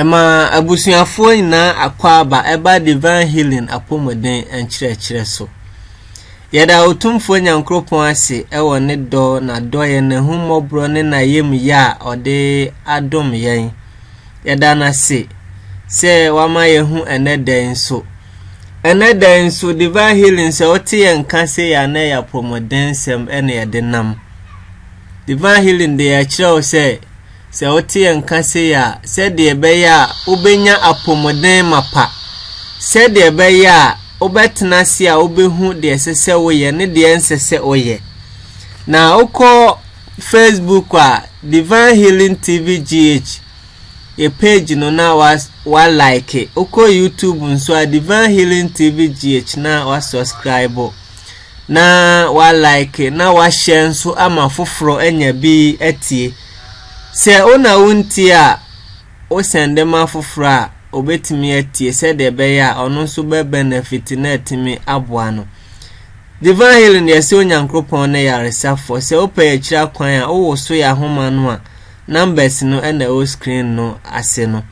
Ɛma abusuafoɔ nyinaa akwaaba ɛba Divine Healing apɔmuden nkyerɛkyerɛ so. Yɛda Otumfoɔ Nyankoropɔn ase ɛwɔ ne dɔ, n'adɔeɛ, n'ahummɔborɔ ne n'ayamyɛ a ɔde adom yɛn. Yɛda no ase sɛ wama yɛhu ɛnɛ da nso. Ɛnɛ da nso Divine Healing sɛ wote yɛn nka sɛ yɛ anɛ yɛ apɔmuden nsɛm ɛne yɛde nam. Divine Healing de yɛkyerɛ wo sɛ Sɛ wote yɛn nka sei a, sɛdeɛ ɛbɛyɛ a wobɛnya apɔmuden mapa, sɛdeɛ ɛbɛyɛ a wobɛtena ase a wobɛhu deɛ ɛsɛ sɛ woyɛ ne deɛ ɛnsɛ sɛ woyɛ. Na wokɔ Facebook a, Divine Healing TV GH, yɛ page no na wa, wa like. Wokɔ YouTube nso a, Divine Healing TV GH na wa subscribe. Na wa like na wa share nso ama foforɔ anya bi atie. Sɛ wo na wontie a, wo sɛnde ma foforɔ a ɔbɛtumi atie sɛdeɛ ɛbɛyɛ a ɔno nso bɛ benefit na atumi aboa no. Divine healing deɛ sɛ Onyankopɔn ne yaresafoɔ sɛ wopɛ akyira kwan a wowo so yɛ ahoma no a numbers no ɛna ɛwɔ screen no ase no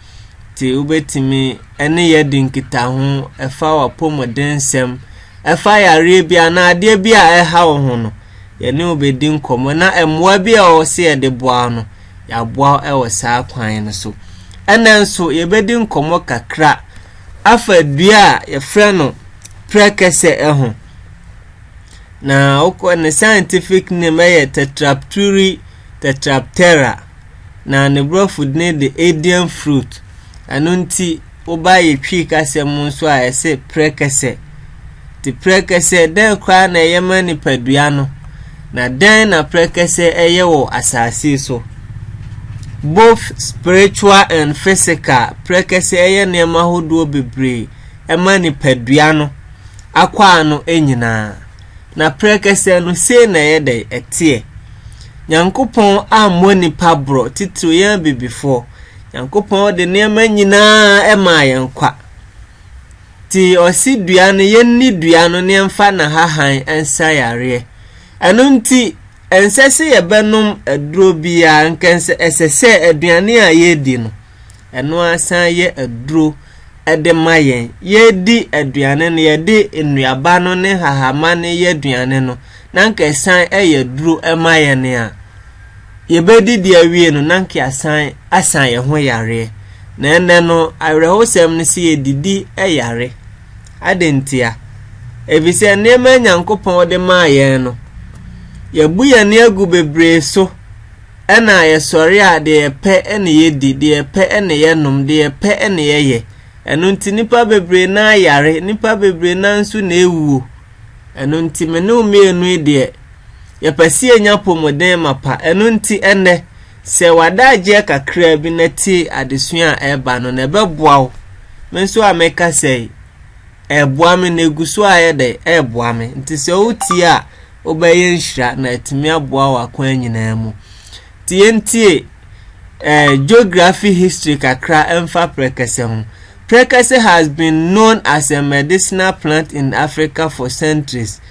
nti wobɛtumi ɛne yɛ di nkitaho ɛfa wapɔmuden nsɛm Ɛfa yareɛ bi anaa adeɛ bi a ɛha wo ho no, yɛne wo bɛdi nkɔmmɔ na mmoa bi a ɛwɔ sɛ yɛde boa wo no, yɛaboa wo wɔ saa kwan no so. Ɛnna nso yɛbɛdi nkɔmmɔ kakra afa dua a yɛfrɛ no prɛkɛsɛ ho. Na wokɔ ne scientific name yɛ Tetrapturi tetraptera na ne borɔfo din de Indian fruit. Ɛno nti Woba yɛ Twi kasa mu nso a, ɛse prɛkɛsɛ. Te prɛkɛsɛ, dɛn koraa na ɛyɛ ma nipadua no, na dɛn na prɛkɛsɛ ɛyɛ wɔ asase so? Both spiritual and physical, prɛkɛsɛ ɛyɛ nneɛma hodoɔ bebree ɛma nipadua no akɔ ano nyinaa. Na prɛkɛsɛ no sei na ɛyɛ dɛ ɛteɛ. Nyankopɔn ammɔ nipa borɔ, titiriw yɛn abibifoɔ. Nyankopɔn de nneɛma nyinaa maa yɛn nkwa. Ti ɔsi dua no yɛnni dua no ne yɛmfa n'ahahan nsa yareɛ. Ɛno nti ɛnsɛ sɛ yɛbɛnom aduro biara nka ɛsɛ sɛ aduane a yɛredi no ɛno asan yɛ aduro de ma yɛn. Yɛredi aduane no yɛde nnuaba no ne hahama no yɛ aduane no na nka ɛsan yɛ aduro ma yɛn a yɛbɛdidi awie no na nka yɛasan asan yɛn ho yareɛ na ɛnɛ no awerɛhosɛm no sɛ yɛdidi yare adɛn ntia efisɛ nneɛma a nyankopɔn de maa yɛn no yɛbu yɛn ani agu bebree so ɛna yɛsɔre a deɛ yɛpɛ ɛna yɛdi deɛ yɛpɛ ɛna yɛnom deɛ yɛpɛ ɛna yɛyɛ ɛno nti nipa bebree na ayare nipa bebree na nso na ewuo ɛno nti me ne mmienu yi deɛ Yɛpɛ sɛ yɛnya apɔmuden mapa. Ɛno nti, ɛnnɛ, sɛ wada agyeɛ kakraa bi na tie adesua a ɛreba no na ɛbɛboa wo. Me nso a meka sɛ yi, ɛreboa me na ɛgu so a yɛ dɛ, ɛreboa me. Nti sɛ wotie a, wobɛyɛ nhyira na atumi aboa wo akwan nyinaa mu. Nti yɛntie eh, geography history kakra ɛmfa prɛkɛsɛ ho. Prɛkɛsɛ has been known as a medicinal plant in Africa for centuries.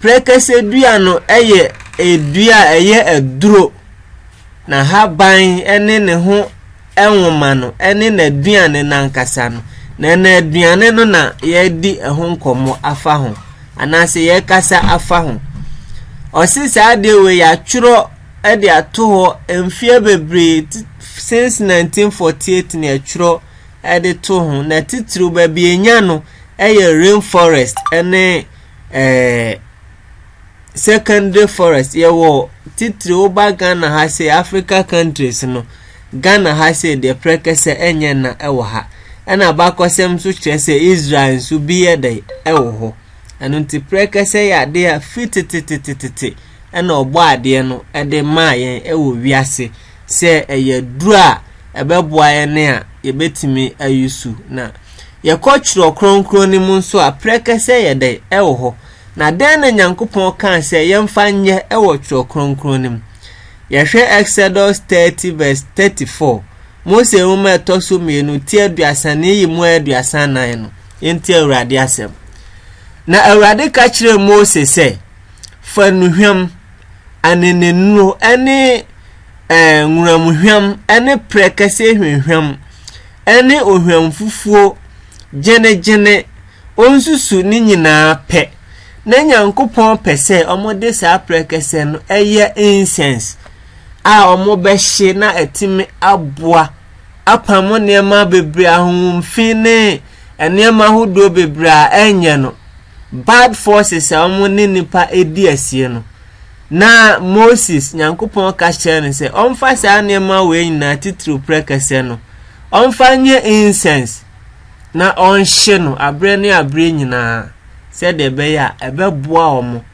Prɛkɛsɛ dua no yɛ dua a ɛyɛ aduro. N'ahaban ne ne ho nwoma no ne n'aduane no ankasa no. Na ɛna aduane no na yɛredi ho nkɔmmɔ afa ho anaasɛ yɛrekasa afa ho. Ɔse saa adeɛ wei yɛatwerɛ de ato hɔ mfeɛ bebree since 1948 na yɛtwerɛ de to ho na titiriw baabi enya no yɛ rainforest ne eh, secondary forest yɛwɔ titiri woba ghana ha sɛ africa countries no ghana ha sɛ deɛ prɛkɛsɛ ɛnyɛ na ɛwɔ ha ɛna bakɔsɛm nso kyerɛ sɛ israel nso bi yɛ dɛ ɛwɔ hɔ ɛno nti prɛkɛsɛ yɛ adeɛ a fi tetetetetete ɛna ɔbɔ adeɛ no ɛde maa yɛn ɛwɔ wiase sɛ ɛyɛ duru a ɛbɛboa yɛn a yɛbɛtumi ayi so. Na yɛkɔ Twerɛ Kronkron no mu nso a, prɛkɛsɛ yɛ dɛn ɛwɔ hɔ? Na dɛn na Nyankopɔn kaa sɛ yɛmfa nyɛ ɛwɔ Twerɛ Kronkron no mu? Yɛhwɛ Exodus 30 verse 34, Mose nwoma ɛtɔ so mmienu ti aduasa ne yi mu aduasa nan no. Yɛnti Awurade asɛm. Na Awurade ka kyerɛɛ Mose sɛ, Fa nnuhwam anenenuro ne ɛɛ nworamhwam ne prɛkɛseɛ hwamhwam ne ohwamfufuo gyenegyene. Ɔnsusu ne nyinaa pɛ. Na Nyankopɔn pɛ sɛ wɔde saa prɛkɛsɛ no yɛ incense a wɔbɛhye na atumi aboa apam nneɛma bebree ahohomfi ne nneɛma ahodoɔ bebree a ɛnyɛ no. bad forces a wɔn ne nipa edi asie no, na Moses, Nyankopɔn ka kyerɛ no sɛ ɔmfa saa nneɛma wei nyinaa titiriw prɛkɛsɛ no, ɔmfa nyɛ incense na ɔnhye no aberɛ ne aberɛ nyinaa sɛdeɛ ɛbɛyɛ a ɛbɛboa wɔn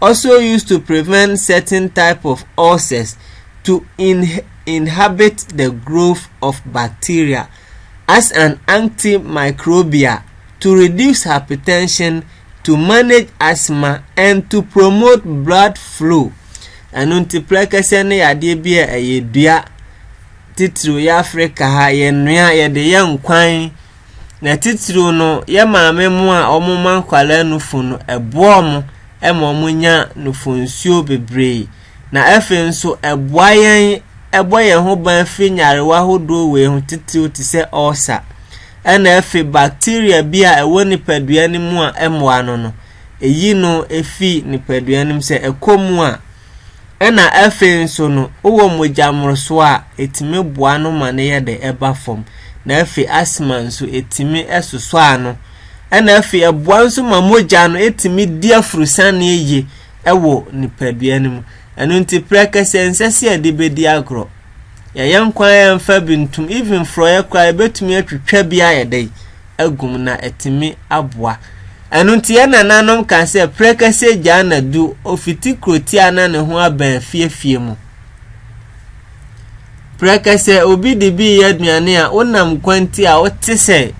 also used to prevent certain type of ulcers to in inhabit the growth of bacteria as an antimicrobial to reduce hypertension to manage asthma and to promote blood flow ɛno nti prɛkɛsɛ ne yadeɛ bi a ɛyɛ dua titiriw yɛ afrika ha yɛnoa yɛde yɛ nkwan Na titiriw no, yɛ maame mo a wɔma nkwadaa nufu no, ɛboa wɔn ma wɔnya nufunsuo bebree. Na afei nso, ɛboa yɛn ɛbɔ yɛn ho ban firi nyarewa ahodoɔ wei ho titiriw te sɛ ulcer. Ɛna afei bacteria bi a ɛwɔ nipadua no mu a ɛmmoa no no, ɛyi no ɛfiri nipadua no mu sɛ ɛkɔ mu a, Ɛna afei nso no wowɔ mogya mmorosoɔ a ɛtumi boa no ma no yɛ de ɛba fam na afei asma nso ɛtumi sosɔ ano ɛna afei ɛboa nso ma mogya no ɛtumi di afurusane yie ɛwɔ nipadua no mu ɛno nti prɛkɛsɛ nsɛ sɛ yɛde bɛdi agorɔ Yɛyɛ nkwa a ɛmfa bi ntom, even forɔeɛ koraa yɛbɛtumi atwitwa bi ayɛ dɛ agum na ɛtumi aboa. Ɛno nti yɛn nananom ka sɛ prɛkɛsɛ gyaa na du ofiti kurotia na ne ho abɛn fiefie mu. Prɛkɛsɛ obi de bi yɛ aduane a wonam kwanti a wote sɛ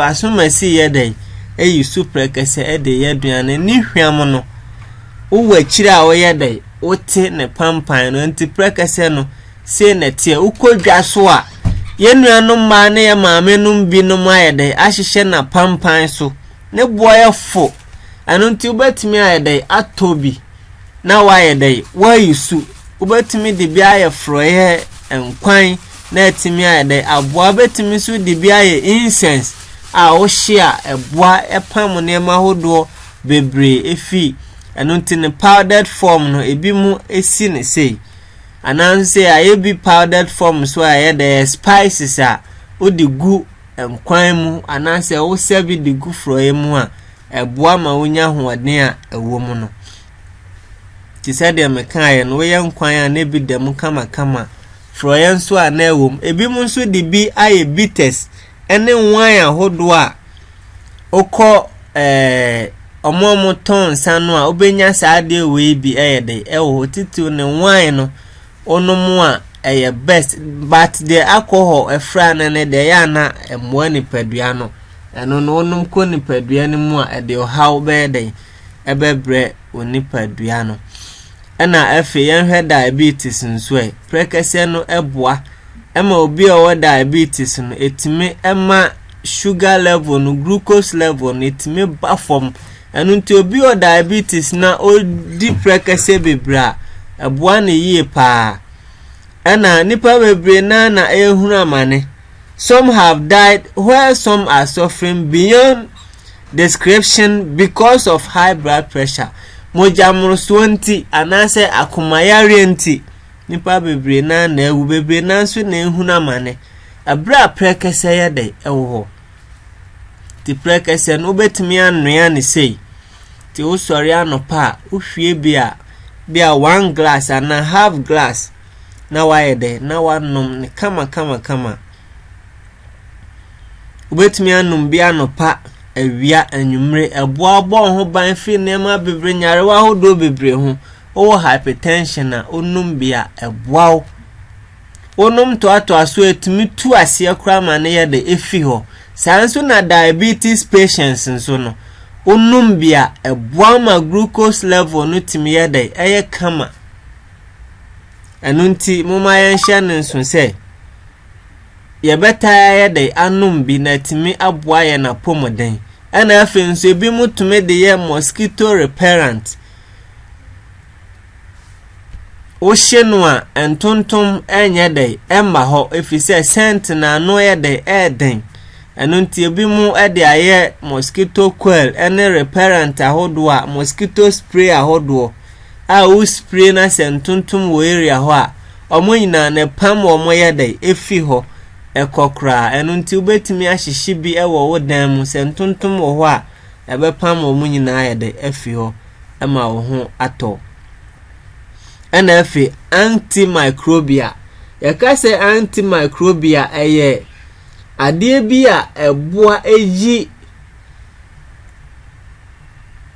asomasi yɛ dɛ eyi su prɛkɛsɛ de yɛ aduane ne hwam no wowɔ akyire a woyɛ dɛ Wote ne pampan no nti prɛkɛsɛ no sei na ɛteɛ wokɔ dwa so a yɛn nuanom mmaa ne yɛn maame nom binom ayɛ dɛ ahyehyɛ na pampan so ne boɔ yɛ fo ɛno nti wobɛtumi ayɛ dɛ atɔ bi na wayɛ dɛ wayi su wobɛtumi de bi ayɛ forɔyɛ nkwan na atumi ayɛ dɛ aboa wobɛtumi nso de bi ayɛ incense a wohye a ɛboa ɛpam nneɛma ahodoɔ bebree efi. Ɛno nti no powdered form no ebi mu si ne sei anaasɛ sɛ ayɛ bi powdered form so a ɛyɛ dɛ spices a wode gu nkwan mu anaasɛ wosɛ bi de gu forɔeɛ mu a ɛboa ma wonya ahoɔden a ɛwɔ mu no te sɛ deɛ mekaeɛ no woyɛ nkwan a na ebi da mu kamakama forɔeɛ nso a na ɛwɔ mu ebi mu nso de bi ayɛ bitters ne wine ahodoɔ a wokɔ ɛɛ wɔn a wɔtɔn nsa no a wobɛnya saa adeɛ wei bi yɛ de ɛwɔ hɔ titiriw ne wine no wonom a ɛyɛ best but deɛ alcohol ɛfra no ne deɛ ɛyɛ ana mmoa nipadua no ɛno no wonom kɔ nipadua no mu a ɛde ɔhaw bɛyɛ dɛn ɛbɛbrɛ wo nipadua no. Ɛna afei yɛnhwɛ diabetes nso ɛ. Prɛkɛsɛ no ɛboa ɛma obi a ɔwɔ diabetes no ɛtumi ɛma sugar level no glucose level no ɛtumi ba fam. Ɛno nti obi wɔ diabetes na ɔdi prɛkɛsɛ bebree a ɛboa no yie paa. Ɛna nipa bebree naa na ɛrehunu amane. some have died while some are suffering beyond description because of high blood pressure. Mogyamorosoɔ nti anaasɛ akomayareɛ nti nipa bebree naa na awu bebree naa nso na ehunu amane ɛberɛ a prɛkɛsɛ yɛ dɛ ɛwɔ hɔ ti prɛkɛsɛ no wobɛtumi anoa ne sei ti wosɔre anɔpa a wohwie bi a bi a one glass anaa half glass na wayɛ dɛ na wanom no kama kama kama wobɛtumi anom bi anɔpa awia anwummere ɛboa bɔ ho ban firi nneɛma bebree nyarewa ahodoɔ bebree ho wowɔ hypertension a wonom bi a ɛboa wo wonom toatoa so ɛtumi tu aseɛ koraa ma no yɛ de ɛfi hɔ saa nso na diabetes patients nso no wonom bi a ɛboa ma glucose level no tumi yɛ dɛ ɛyɛ kama Ɛno nti, momma yɛnhyɛ no nso sɛ yɛbɛtaa yɛ dɛ anom bi na atumi aboa yɛn apɔmuden. Ɛna afei nso ebi mo tumi de yɛ mosquito repellent. Wohye no a ntontom nyɛ dɛ ɛmma hɔ ɛfiri sɛ sɛnt no ano yɛ dɛ ɛyɛ den. Ɛno nti ebi mo de ayɛ mosquito coil ne repellent ahodoɔ a mosquito spray ahodoɔ. a wo spray na sɛ ntontom wɔ area hɔ a ɔmo nyinaa no ɛpam wɔ ɔmo yɛ dɛ efi hɔ ɛkɔ koraa ɛno nti wobɛtumi ahyehye bi ɛwɔ wo dan mu sɛ ntontom wɔ hɔ a ɛbɛpam wɔ ɔmo nyinaa yɛ dɛ afi hɔ ɛma wo ho atɔ ɛna afi antimicrobia yɛka sɛ antimicrobia ɛyɛ adeɛ bi a ɛboa ɛyi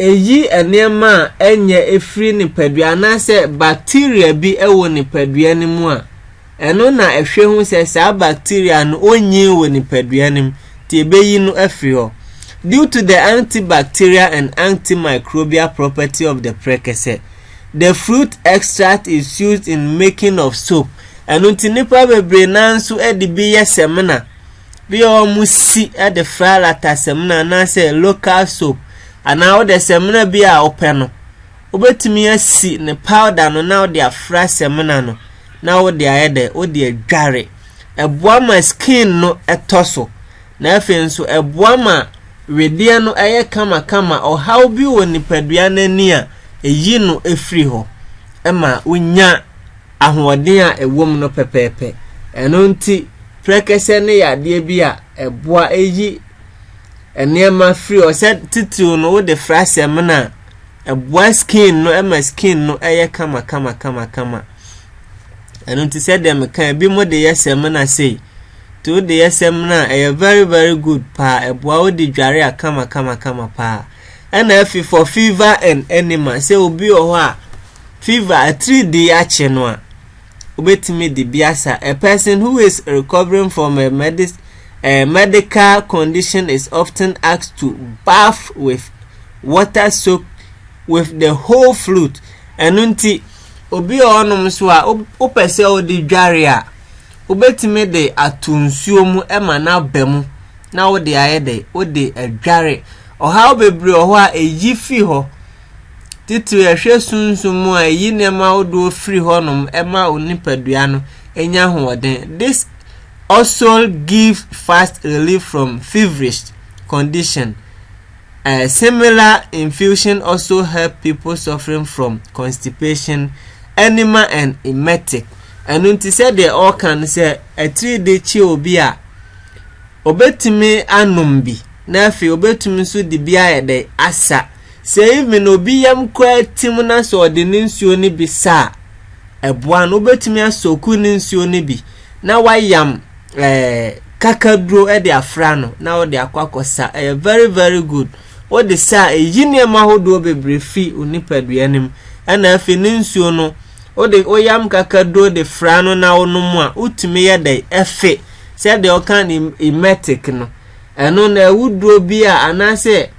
Eyi nneɛma a ɛnyɛ firi nipadua anaasɛ bacteria bi wɔ nipadua no mu a, ɛno na ɛhwɛ hu sɛ saa bacteria no ɔnyin wɔ nipadua no mu, nti ɛbɛyi no afiri hɔ. Due to the antibacterial and antimicrobial property of the prɛkɛsɛ, the fruit extract is used in making of soap. Ɛno nti nnipa bebree nanso de bi yɛ samina. bi a wɔsi de fra lata samina anaasɛ local soap anaa wode samina bi a wopɛ no wobɛtumi asi ne powder no na wode afra samina no na wode ayɛ dɛ wode adware ɛboa ma skin no ɛtɔ so na afei nso ɛboa ma wedeɛ no ɛyɛ kamakama ɔhaw bi wɔ nipadua no ani a ɛyi no ɛfiri hɔ ɛma wonya ahoɔden a ɛwom no pɛpɛɛpɛ. Ɛno nti, prɛkɛsɛ no yɛ adeɛ bi a ɛboa ɛyi nneɛma firi hɔ sɛ titiriw no wode fra sɛmina a ɛboa skin no ɛma skin no ɛyɛ kama kama kama kama ɛno nti sɛdeɛ meka ebi mo de yɛ sɛmina sei nti wode yɛ sɛmina a ɛyɛ very very good paa ɛboa wode dware a kama kama kama paa Ɛna afei for fever and enema sɛ obi wɔ hɔ a fever atiridii akye no a obetumi de bi asa. A person who is recovering from a medis a medical condition is often asked to bath with water soaked with the whole flute. Ɛno nti obi wɔ hɔnom nso a wopɛ sɛ wode dware a wobɛtumi de ato nsuo mu ma no aba mu na wode ayɛ dɛ wode adware Ɔhaw bebree wɔ hɔ a eyi fi hɔ. Titiriw, yɛhwɛ sunsum mu a, eyi nneɛma ahodoɔ firi hɔnom ma onipadua no nya ahoɔden. This also give fast relief from feverish condition. A similar infusion also help people suffering from constipation, enema and emetic. Ɛno nti sɛdeɛ ɔka no sɛ atiri de kye obi a, obetumi anom bi. na afei obetumi nso de bi ayɛ dɛ asa. Sɛ even obi yam koraa tim na sɛ ɔde ne nsuo no bi sa a, ɛboa no. Wobetumi asɔku ne nsuo no bi na wayam ɛɛ eh, kakaduro de afra no na wode akɔ akɔsa. Ɛyɛ very very good. Wode sa a eyi nneɛma ahodoɔ bebree fi wo nipadua no mu. Ɛna afei ne nsuo no wode woyam kakaduro de fra no na wonom a wotumi yɛ dɛ ɛfe sɛdeɛ ɔka no emetic no Ɛno na awuduro bi a anaasɛ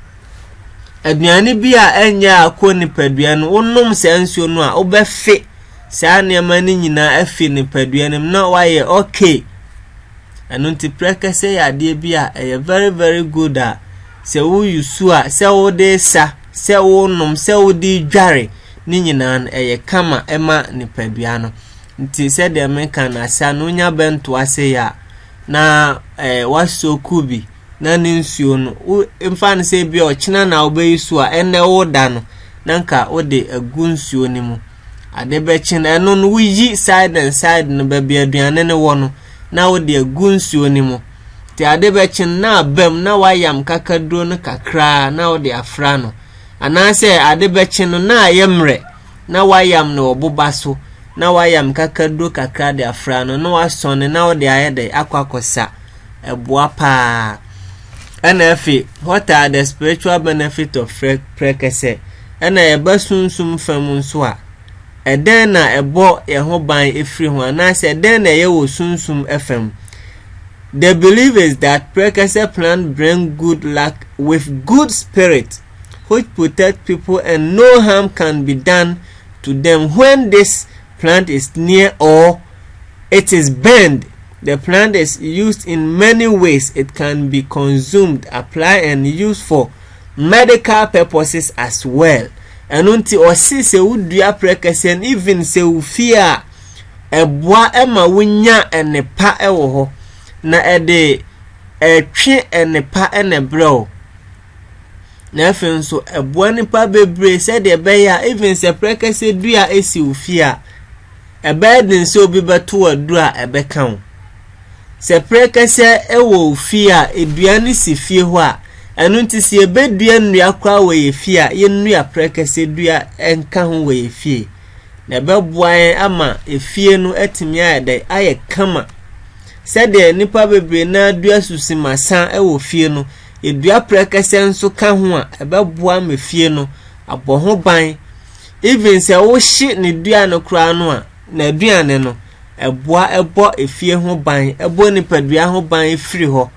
aduane bi a ɛnyɛ a kɔ nipadua no wonom saa nsuo no a wobɛfe saa nneɛma no nyinaa afi nipadua no mu na wayɛ okay ɛno nti prɛkɛsɛ yɛ adeɛ bi a ɛyɛ very very good a sɛ woyi su a sɛ wode sa sɛ wonom sɛ wode dware ne nyinaa no ɛyɛ kama ɛma nipadua no nti sɛdeɛ meka no asa no wonya bɛnto ase yɛ a na ɛɛ w'asɔ kuw bi na ne nsuo no wo mfa no sɛ ebi a ɔkyena na wobɛyi so a ɛnna ɛwɔ da no na nka wode agu nsuo no mu ade bɛkye no ɛno no woyi side and side no baabi aduane no wɔ no na wode agu nsuo no mu te ade bɛkye no na abam na wayam kakaduro no kakraa na wode afra no anaasɛ ade bɛkye no na ayɛ mmerɛ na wɔayam no wɔ boba so na wɔayam kakaduro kakra de afra no na wɔasɔn no na wɔde ayɛ dɛ akɔ akɔsa ɛboa paa ɛna afei what are the spiritual benefit of prɛkɛsɛ ɛna yɛba sunsum fam nso a ɛdɛn na ɛbɔ yɛn ho ban efiri ho anaasɛ ɛdɛn na ɛyɛ wɔ sunsum fam the belief is that prɛkɛsɛ plant bring good luck with good spirit which protect people and no harm can be done to them when this plant is near or it is burned. The plant is used in many ways. It can be consumed, applied, and used for medical purposes as well. ɛno nti ɔsi sɛ wodua prɛkɛsɛ no even sɛ wofie a ɛboa ɛma wonya ɛnepa ɛwɔ hɔ na ɛde ɛtwe ɛnepa ɛna ɛbrɛ o na afei nso ɛboa nipa bebree sɛdeɛ ɛbɛyɛ a even sɛ prɛkɛsɛ dua esi wo fie a ɛbɛyɛ den sɛ obi bɛto aduru a ɛbɛka wo sɛ prɛkɛsɛ ɛwɔ wo fie a edua no si fie hɔ a ɛno nti sɛ yɛbɛdua nnua koraa wɔ yɛ fie a yɛnnua prɛkɛsɛ dua nka ho wɔ yɛ fie na ɛbɛboa yɛn ama efie no atumi ayɛ dɛ ayɛ kama sɛdeɛ nnipa bebree na dua susimasa wɔ fie no Yɛdua prɛkɛsɛ nso ka ho a, ɛbɛboa ma fie no abɔ ho ban. Even sɛ wohye ne dua no koraa no a, n'aduane no, ɛboa ɛbɔ efie ho ban, ɛbɔ nipadua ho ban firi hɔ.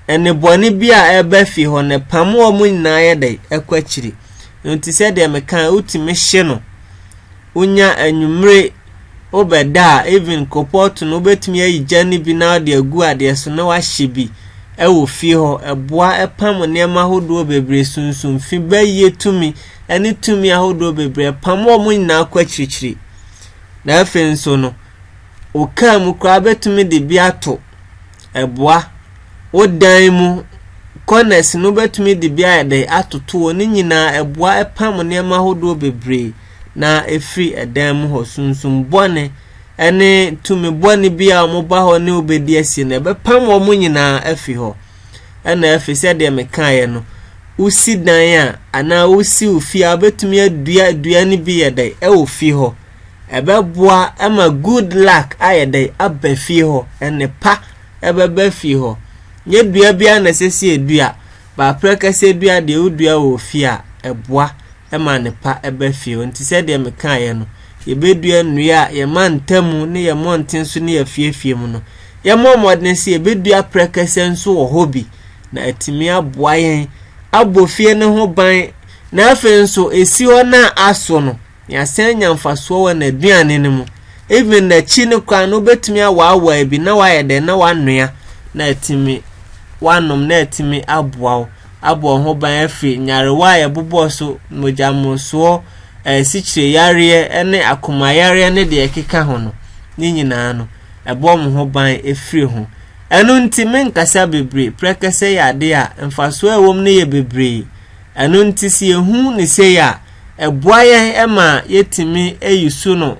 Ɛne bɔne bi a ɛba fie hɔ no, ɛpam wɔn nyinaa yɛ dɛ ɛkɔ akyiri. Nti sɛdeɛ mekaa, wotumi hye no. wonya anwummere wobɛda a even kopɔt no wobɛtumi ayi gya no bi na wode agu adeɛ so na wahyɛ bi wɔ fie hɔ ɛboa ɛpam nneɛma ahodoɔ bebree sunsun fi bɛyie tumi ɛne tumi ahodoɔ bebree pam wɔn nyinaa kɔ akyirikyiri na afei nso no okaa mu koraa bɛtumi de bi ato ɛboa wo dan mu corners no bɛtumi de bi ayɛ dɛ atoto wɔ ne nyinaa ɛboa ɛpam nneɛma ahodoɔ bebree na ɛfiri ɛdan mu hɔ sunsum bɔne ne tumi bɔne bi a wɔba hɔ ne wobɛdi asie no ɛbɛpam wɔn nyinaa afi hɔ ɛna afi sɛdeɛ mekaeɛ no wosi dan a anaa wosi wo fie a wobɛtumi adua dua no bi yɛ dɛ ɛwɔ fie hɔ ɛbɛboa ɛma good luck ayɛ dɛ aba fie hɔ ɛne pa ɛbɛba fie hɔ nyɛ dua biara na ɛsɛ sɛ ɛdua baaprɛ kɛsɛ dua deɛ wodua wɔ fie a ɛboa ma nnepa ba fie hɔ. Nti sɛdeɛ mekaeɛ no, yɛbɛdua nnua a yɛma ntamu ne yɛn mmɔnten so ne afiefie mu no. Yɛmmɔ mmɔden sɛ yɛbɛdua prɛkɛsɛ nso wɔ hɔ bi na atumi aboa yɛn abɔ fie no ho ban na afei nso ɛsi hɔ no a aso no yɛasan nya mfasoɔ wɔ n'aduane no mu even n'akyi no koraa no wobɛtumi awaawaa bi na wayɛ dɛn na wanoa na atumi wanom na atumi aboa wo abɔ wɔn ho ban afiri nyarewa a ɛbobɔ so, mogyammosoɔ, sikyireyareɛ ne akomayareɛ ne deɛ ɛkeka ho no, ne nyinaa no, ɛbɔ wɔn ho ban firi ho. Ɛno nti, menkasa bebree, prɛkɛsɛ yɛ adeɛ a mfasoɔ a ɛwɔ mu no yɛ bebree. Ɛno nti, sɛ yɛhu ne sei a, ɛboa yɛn ma yɛtumi ayi so no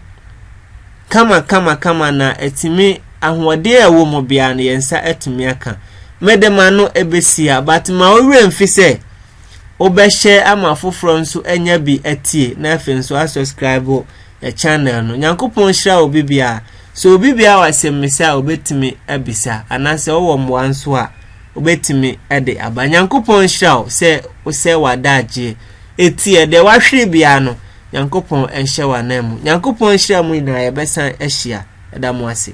Kama kama kama na atumi ahoɔden a ɛwɔ mu biara no yɛn nsa atumi aka mede ma no ɛbɛsia but ma wo werɛ mfi sɛ wobɛhyɛ ama afoforɔ nso anya bi atie na afei nso asubscribe yɛ channel no nyankopɔn nhyira wo bibiara sɛ obi biara wɔ asɛmmisa a wobɛtumi abisa anaasɛ wowɔ mmoa nso a wobɛtumi de aba nyankopɔn nhyira wo sɛ wosɛ w'adagyeɛ ɛti ɛdeɛ wahwere biara no nyankopɔn nhyɛ wo anan mu nyankopɔn nhyira mu nyinaa yɛbɛsan ahyia ɛda mo ase